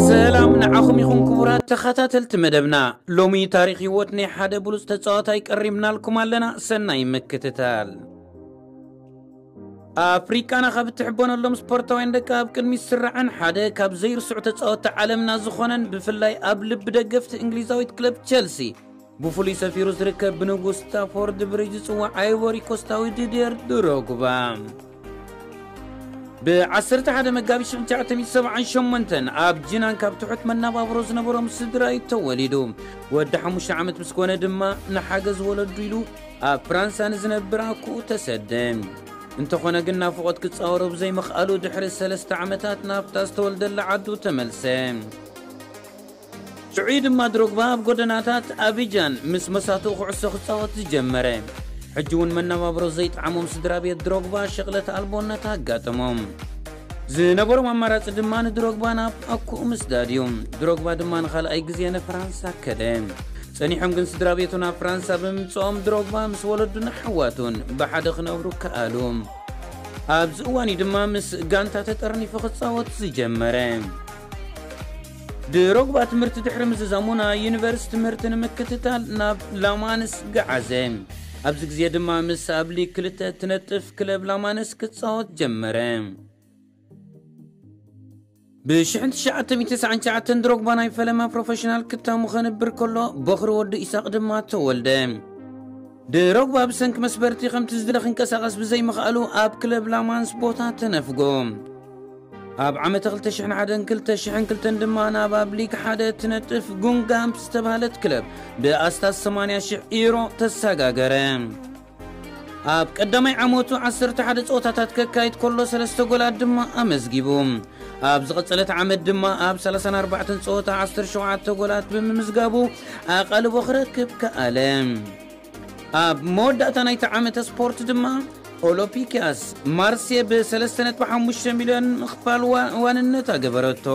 ሰላም ንዓኹም ይኹን ክቡራት ተኸታተልቲ መደብና ሎሚ ታሪክ ህይወት ናይ ሓደ ብሉፅ ተፃዋታይ ቀሪብናልኩም ኣለና ሰናይ ምክትታል ኣፍሪቃና ካብ እትሕበነሎም ስፖርታውያን ደቂ ኣብ ቅድሚ ስራዕን ሓደ ካብ ዘይርስዑ ተፃወቲ ዓለምና ዝኾነን ብፍላይ ኣብ ልቢ ደገፍቲ እንግሊዛዊት ክለብ ቸልሲ ብፍሉይ ሰፊሩ ዝርከብ ብንጉስ ስታፎርድ ብሪጅ ዝጽዋዕ ኣይቮሪ ኮስታዊ ዲድየር ድሮግባ ብ11 መጋቢት 1978 ኣብ ጂናን ካብ ትሑት መናባብሮ ዝነበሮም ስድራ እዩ ተወሊዱ ወዲ ሓሙሽተ ዓመት ምስ ኮነ ድማ ንሓገዝ ወለዱ ኢሉ ኣብ ፍራንሳ ንዝነብር ኣኩኡ ተሰደ እንተኾነ ግን ናፍቖት ክጻወሮ ብዘይምኽኣሉ ድሕሪ ሰለስተ ዓመታት ናብታ ዝተወልደላ ዓዱ ተመልሰ ሽዑ'ዩ ድማ ድሮግባ ኣብ ጎደናታት ኣቢጃን ምስ መሳቱኡ ኩዕሶ ክጻወት ዝጀመረ። ሕጂ'ውን መነባብሮ ዘይጠዓሞም ስድራቤት ድሮግባ ሽቕለት ኣልቦነት ኣጋጠሞም። ዝነበሮም ኣማራጺ ድማ ንድሮግባ ናብ ኣኩኡ ምስዳድ እዩ። ድሮግባ ድማ ንኻልኣይ ግዜ ንፍራንሳ ከደ። ጸኒሖም ግን ስድራቤቱ ናብ ፍራንሳ ብምምጽኦም ድሮግባ ምስ ወለዱን ኣሕዋቱን ብሓደ ክነብሩ ከኣሉ። ኣብዚ እዋን'ዩ ድማ ምስ ጋንታ ተጠርኒፉ ክጻወት ዝጀመረ። ድሮግባ ትምህርቲ ድሕሪ ምዝዛሙ ናይ ዩኒቨርስ ትምህርቲ ንምክትታል ናብ ላማንስ ገዓዘ። ኣብዚ ግዜ ድማ ምስ ኣብ ሊግ ክልተ እትነጥፍ ክለብ ላማንስ ክጻወት ጀመረ። ብ1999 ድሮግባ ናይ ፈለማ ፕሮፌሽናል ክታሙ ከንብር ከሎ ቦኽሪ ወዱ ኢሳቕ ድማ ተወልደ። ድሮግባ ብሰንኪ መስበርቲ ከምቲ ዝድለ ክንቀሳቐስ ብዘይምኽኣሉ ኣብ ክለብ ላማንስ ቦታ ተነፍጎ። ኣብ ዓመተ 2001ን 2002ን ድማ ናብ ኣብ ሊግ ሓደ እትነጥፍ ጉንጋምፕ ዝተባህለት ክለብ ብኣስታት 80,000 ዩሮ ተሰጋገረ። ኣብ ቀዳማይ ዓመቱ 11 ጸወታታት ከካይድ ከሎ ሰለስተ ጎላት ድማ ኣመዝጊቡ። ኣብ ዝቐጸለት ዓመት ድማ ኣብ ሰላሳን ኣርባዕተን ጸወታ ዓሰርተ ሸውዓተ ጎላት ብምምዝጋቡ ኣቓልቦ ክረክብ ከኣለ። ኣብ መወዳእታ ናይቲ ዓመተ ስፖርት ድማ ኦሎፒኪያስ ማርሴ ብሰለስተ ነጥቢ ሓሙሽተ ሚልዮን ምኽፋል ዋ- ዋንነታ ገበረቶ።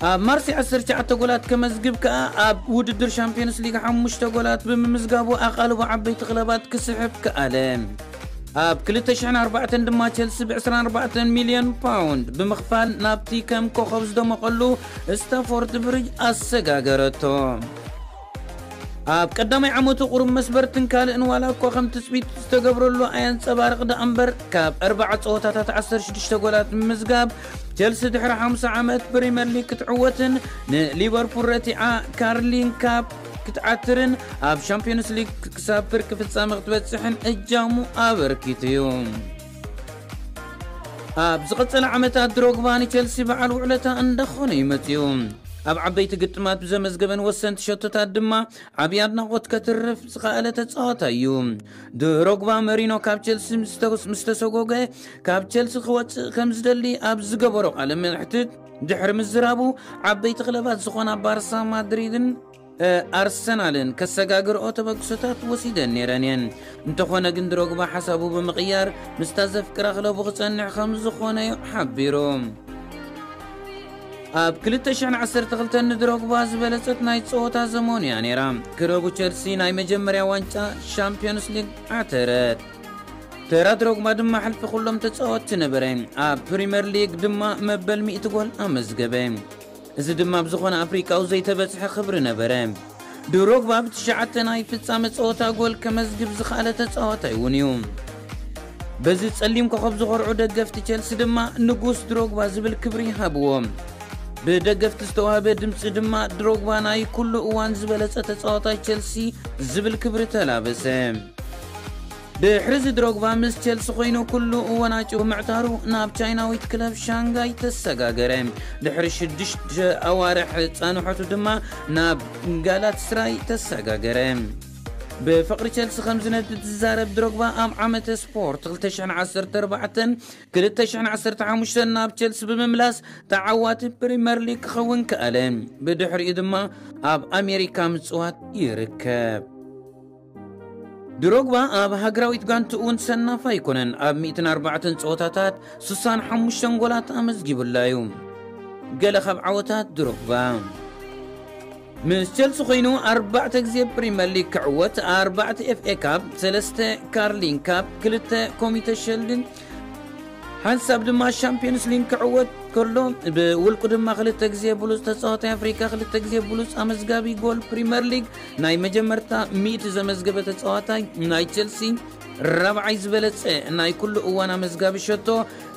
ኣብ ማርሴ ዓሰርተ ትሽዓተ ጎላት ከመዝግብ ከኣ ኣብ ውድድር ሻምፕዮንስ ሊግ ሓሙሽተ ጎላት ብምምዝጋቡ ኣቓልቦ ዓበይቲ ክለባት ክስሕብ ከኣለ። ኣብ ክልተ ሽሕን ኣርባዕተን ድማ ቸልሲ ብ ዕስራን ኣርባዕተን ሚልዮን ፓውንድ ብምኽፋል ናብቲ ከም ኮኾብ ዝደመቐሉ ስታፎርድ ብሪጅ ኣሰጋገረቶ። ኣብ ቀዳማይ ዓመቱ ቁሩብ መስበርትን ካልእን ዋላ እኳ ከም ትጽቢት ዝተገብረሉ ኣየንጸባርቕ ደኣምበር፣ ካብ ኣርብዓ ጸወታታት ዓሰርተ ሽዱሽተ ጎላት ብምምዝጋብ ቸልሲ ድሕሪ ሓምሳ ዓመት ፕሪመር ሊግ ክትዕወትን ንሊቨርፑል ረቲዓ ካርሊንግ ካፕ ክትዓትርን ኣብ ሻምፕዮንስ ሊግ ክሳብ ፍርቂ ፍጻመ ክትበጽሕን እጃሙ ኣበርኪቱ'ዩ። ኣብ ዝቕጽል ዓመታት ድሮግባ ንቸልሲ በዓል ውዕለታ እንዳኾነ እዩ መጺኡ። ኣብ ዓበይቲ ግጥማት ብዘመዝገበን ወሰንቲ ሸቶታት ድማ ዓብዪ ኣድናቖት ከትርፍ ዝኸኣለ ተጻዋታይ እዩ። ድሮግባ መሪኖ ካብ ቸልሲ ምስ ተሰጎገ ካብ ቸልሲ ክወጽእ ከም ዝደሊ ኣብ ዝገበሮ ቃለ መሕትት ድሕሪ ምዝራቡ ዓበይቲ ክለባት ዝኾና ባርሳ ማድሪድን ኣርሰናልን ከሰጋግርኦ ተበግሶታት ወሲደን ነይረን እየን። እንተኾነ ግን ድሮግባ ሓሳቡ ብምቕያር ምስታ ዘፍቅራ ክለቡ ክጸንዕ ከም ዝኾነ እዩ ሓቢሩ። ኣብ 2012 ንድሮግባ ዝበለጸት ናይ ጸወታ ዘመኑ እያ ነይራ ክለቡ ቸልሲ ናይ መጀመርያ ዋንጫ ሻምፒዮንስ ሊግ ዓተረት ተራ ድሮግባ ድማ ሕልፊ ኩሎም ተጻወትቲ ነበረ ኣብ ፕሪምየር ሊግ ድማ መበል 100 ጎል ኣመዝገበ እዚ ድማ ብ ዝኾነ ኣፍሪቃዊ ዘይተበጽሐ ክብሪ ነበረ። ድሮግባ ብ ትሽዓተ ናይ ፍጻመ ጸወታ ጎል ከመዝግብ ዝኸኣለ ተጻዋታይ እውን እዩ። በዚ ጸሊም ኮኾብ ዝኾርዑ ደገፍቲ ቸልሲ ድማ ንጉስ ድሮግባ ዝብል ክብሪ ሃብዎ። ብ ደገፍቲ ዝተዋህበ ድምጺ ድማ ድሮግባ ናይ ኩሉ እዋን ዝበለጸ ተጻዋታይ ቸልሲ ዝብል ክብሪ ተላበሰ። ድሕሪዚ ድሮግቫ ምስ ቸልሲ ኮይኑ ኩሉ እወናጭ ብምዕታሩ ናብ ቻይናዊት ክለብ ሻንጋይ ተሰጋገረ። ድሕሪ ሽዱሽተ ኣዋርሕ ጻንሖቱ ድማ ናብ ጋላትስራይ ተሰጋገረ። ብፍቕሪ ቸልሲ ከም ዝነድድ ዝዛረብ ድሮግቫ ኣብ ዓመተ ስፖርት ክልተ ሽሕን ዓሰርተ ኣርባዕተን ክልተ ሽሕን ዓሰርተ ሓሙሽተን ናብ ቸልሲ ብምምላስ ተዓዋቲ ፕሪመር ሊግ ክኸውን ከኣለ። ብድሕሪኡ ድማ ኣብ ኣሜሪካ ምጽዋት ይርከብ። ድሮግባ ኣብ ሃገራዊት ጋንትኡ እውን ሰናፍ ኣይኮነን። ኣብ 104 ጸወታታት 65 ጎላት ኣመዝጊቡላ እዩ። ገለ ካብ ዓወታት ድሮግባ ምስ ቸልሲ ኮይኑ ኣርባዕተ ግዜ ፕሪምየር ሊግ ክዕወት ኣርባዕተ ኤፍኤ ካብ ሰለስተ ካርሊን ካብ ክልተ ኮሚተ ሸልድ ሓንሳብ ድማ ሻምፕዮንስ ሊግ ክዕወት ከሎ ብውልቁ ድማ ክልተ ግዜ ብሉፅ ተፃዋታይ ኣፍሪካ ክልተ ግዜ ብሉፅ ኣመዝጋቢ ጎል ፕሪምየር ሊግ ናይ መጀመርታ ሚእቲ ዘመዝገበ ተፃዋታይ ናይ ቸልሲ ራብዓይ ዝበለፀ ናይ ኩሉ እዋን ኣመዝጋቢ ሸቶ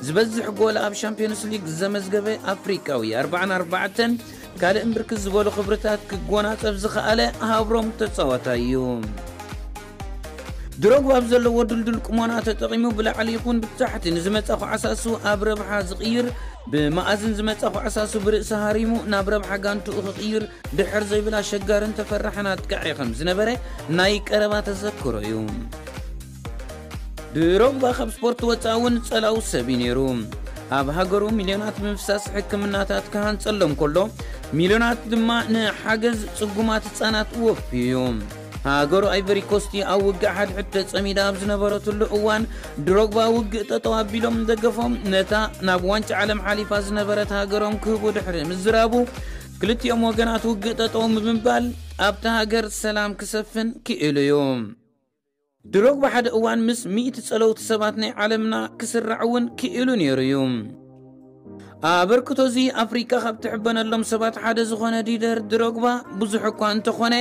ዝበዝሕ ጎል ኣብ ሻምፕዮንስ ሊግ ዘመዝገበ ኣፍሪካዊ 44 ካልእን ብርክት ዝበሉ ክብርታት ክጎናፀፍ ዝኸኣለ ሃብሮም ተፃዋታይ እዩ ድሮግባ ኣብ ዘለዎ ድልዱል ቁሞና ተጠቒሙ ብላዕሊ ይኹን ብታሕቲ ንዝመጸ ኳዕሳሱ ኣብ ረብሓ ዝቕይር ብመኣዝን ዝመጸ ኳዕሳሱ ብርእሲ ሃሪሙ ናብ ረብሓ ጋንትኡ ክቕይር ድሕር ዘይብል ኣሸጋርን ተፈራሕን ኣጥቃዒ ከም ዝነበረ ናይ ቀረባ ተዘክሮ እዩ። ድሮግባ ካብ ስፖርት ወጻኢ እውን ጸላው ሰብ እዩ ነይሩ። ኣብ ሃገሩ ሚልዮናት ብምፍሳስ ሕክምናታት ክሃንጸሎም ከሎ ሚልዮናት ድማ ንሓገዝ ጽጉማት ህጻናት ወፍዩ እዩ። ሃገሩ ኣይቨሪኮስቲ ኣብ ውግእ ሓድሕድ ተጸሚዳ ኣብ ዝነበረትሉ እዋን ድሮግባ ውግእ ጠጠው ኣቢሎም ደገፎም ነታ ናብ ዋንጫ ዓለም ሓሊፋ ዝነበረት ሃገሮም ክህቡ ድሕሪ ምዝራቡ ክልቲኦም ወገናት ውግእ ጠጠው ብምባል ኣብታ ሃገር ሰላም ክሰፍን ክኢሉ እዩ። ድሮግባ ሓደ እዋን ምስ ሚእቲ ጸለውቲ ሰባት ናይ ዓለምና ክስራዕ እውን ክኢሉ ነይሩ እዩ። ኣበርክቶ እዚ ኣፍሪቃ ካብ ትሕበነሎም ሰባት ሓደ ዝኾነ ዲደር ድሮግባ ብዙሕ እኳ እንተኾነ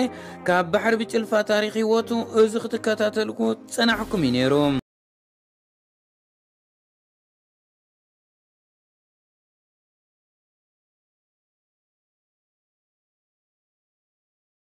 ካብ ባሕሪ ብጭልፋ ታሪኽ ህይወቱ እዚ ክትከታተልኩ ጸናሕኩም እዩ ነይሩ።